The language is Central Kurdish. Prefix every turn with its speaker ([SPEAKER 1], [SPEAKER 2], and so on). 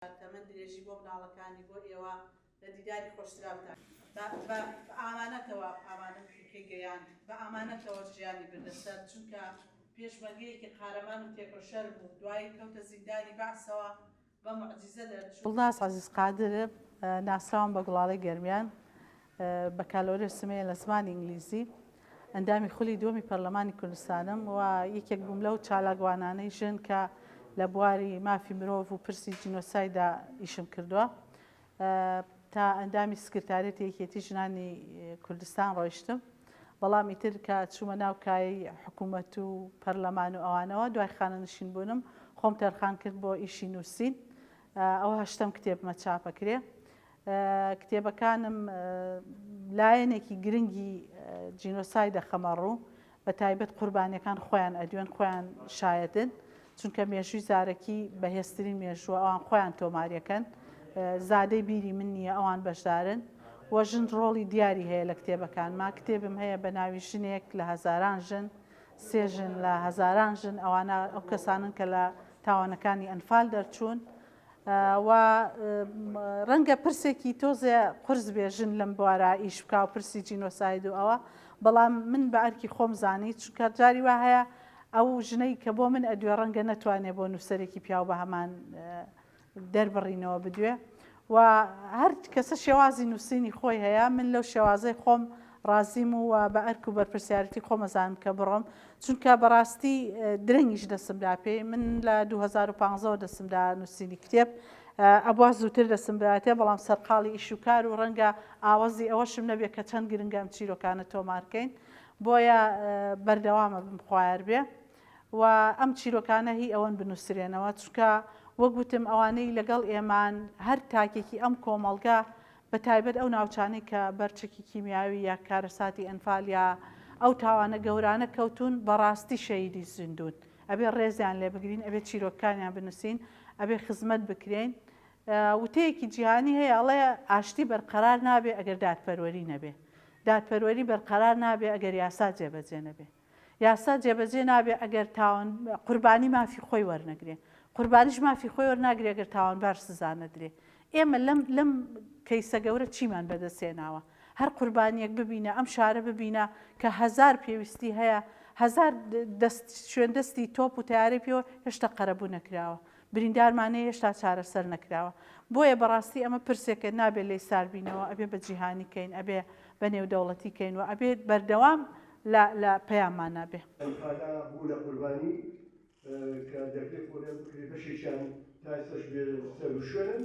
[SPEAKER 1] تەمەن درێژی بۆ مناڵەکانی بۆ ئێوە لە دیداری خۆشتراوتان. بە ئامانەتەوە ئامانەت کەی گەیاند بە ئامانەتەوە ژیانی بردە سەر چونکە پێشمەرگەیەکی قارەمان و تێکۆشەر بوو دوایی کەوتە زیندانی بەعسەوە بە موعجیزە دەرچوو. گوڵناز عەزیز قادر
[SPEAKER 2] ناسراوم بە گوڵاڵەی گەرمیان بەکالۆریۆسم هەیە لە زمانی ئینگلیزی، ئەندامی خولی دووەمی پەرلەمانی کوردستانم و یەکێک بووم لەو چالاکوانانەی ژن کە لە بواری مافی مرۆڤ و پرسی جینۆسایددا ئیشم کردووە. تا ئەندامی سکرتاریەتی یەکێتی ژنانی کوردستان ڕۆیشتم، بەڵام ئیتر کە چوومە ناو کایەی حکوومەت و پەرلەمان و ئەوانەوە، دوای خانەنشین بوونم خۆم تەرخان کرد بۆ ئیشی نووسین، ئەوە هەشتەم کتێبمە چاپەکرێ. کتێبەکانم لایەنێکی گرنگی جینۆساید دەخەمە ڕوو، بە تایبەت قوربانیەکان خۆیان ئەدوێن خۆیان شایەتن، چونکە مێژووی زارەکی بەهێزترین مێژووە ئەوان خۆیان تۆماریەکەن، زادەی بیری من نییە ئەوان بەشدارن و ژن ڕۆڵی دیاری هەیە لە کتێبەکانما، کتێبم هەیە بە ناوی ژنێک لە هەزاران ژن، سێ ژن لە هەزاران ژن، ئەوانە ئەو کەسانەن کە لە تاوانەکانی ئەنفال دەرچوون، و ڕەنگە پرسێکی تۆزێ قورس بێ ژن لەم بوارە ئیش بکا و پرسی جینۆساید و ئەوە بەڵام من بە ئەرکی خۆم زانی چونکە جاری وا هەیە ئەو ژنەی کە بۆ من ئەدوێ ڕەنگە نەتوانێ بۆ نووسەرێکی پیاو بە هەمان دەربڕینەوە بدوێ و هەر کەسە شێوازی نووسینی خۆی هەیە من لەو شێوازەی خۆم ڕازیم و بە ئەرک و بەرپرسیارەتی خۆم ئەزانم کە بڕۆم چونکە بەڕاستی درەنگیش دەسم دا پێی من لە دوو هەزار و پازدە دەسم دا نووسینی کتێب ئەبوا زووتر دەسم براتێ بەڵام سەرقاڵی ئیش و کار و ڕەنگە ئاوەزی ئەوەشم نەبێ کە چەند گرنگە ئەم چیرۆکانە تۆمار کەین بۆیە بەردەوام ئەبم خوایار بێ و ئەم چیرۆکانە هی ئەوەن بنووسرێنەوە چونکە وەک وتم ئەوانەی لەگەڵ ئێمان هەر تاکێکی ئەم کۆمەڵگە بە تایبەت ئەو ناوچانەی کە بەر چەکی کیمیاوی یا کارەساتی ئەنفال یا ئەو تاوانە گەورانە کەوتون بەڕاستی شەهیدی زیندون ئەبێ ڕێزیان لێ بگرین ئەبێ چیرۆکەکانیان بنوسین ئەبێ خزمەت بکرێین وتەیەکی جیهانی هەیە ئەڵێ ئاشتی بەرقەرار نابێ ئەگەر دادپەروەری نەبێ دادپەروەری بەرقەرار نابێ ئەگەر یاسا جێبەجێ نەبێ یاسا جێبەجێ نابێ ئەگەر تاوان قوربانی مافی خۆی وەرنەگرێ، قوربانیش مافی خۆی وەرناگرێ گەر تاوانبار سزا نەدرێ. ئێمە لەم لەم کەیسە گەورە چیمان بەدەست هێناوە؟ هەر قوربانیەک ببینە، ئەم شارە ببینە کە هەزار پێویستی هەیە، هەزار دەست شوێن دەستی تۆپ و تەیارەی پێوە هێشتا قەرەبوو نەکراوە، بریندارمان هەیە هێشتا چارەسەر نەکراوە. بۆیە بەڕاستی ئەمە پرسێکە نابێ لێی ساربینەوە، ئەبێ بە جیهانی کەین، ئەبێ بە نێودەوڵەتی کەین و ئەبێ بەردەوام لە لە پەیاممان نابێ. ئەم خاکە بوونە
[SPEAKER 3] قوربانی کە دەکرێ خۆدەر بکرێ بەشێکیان تا ئێستەش بێ سەروشوێنن.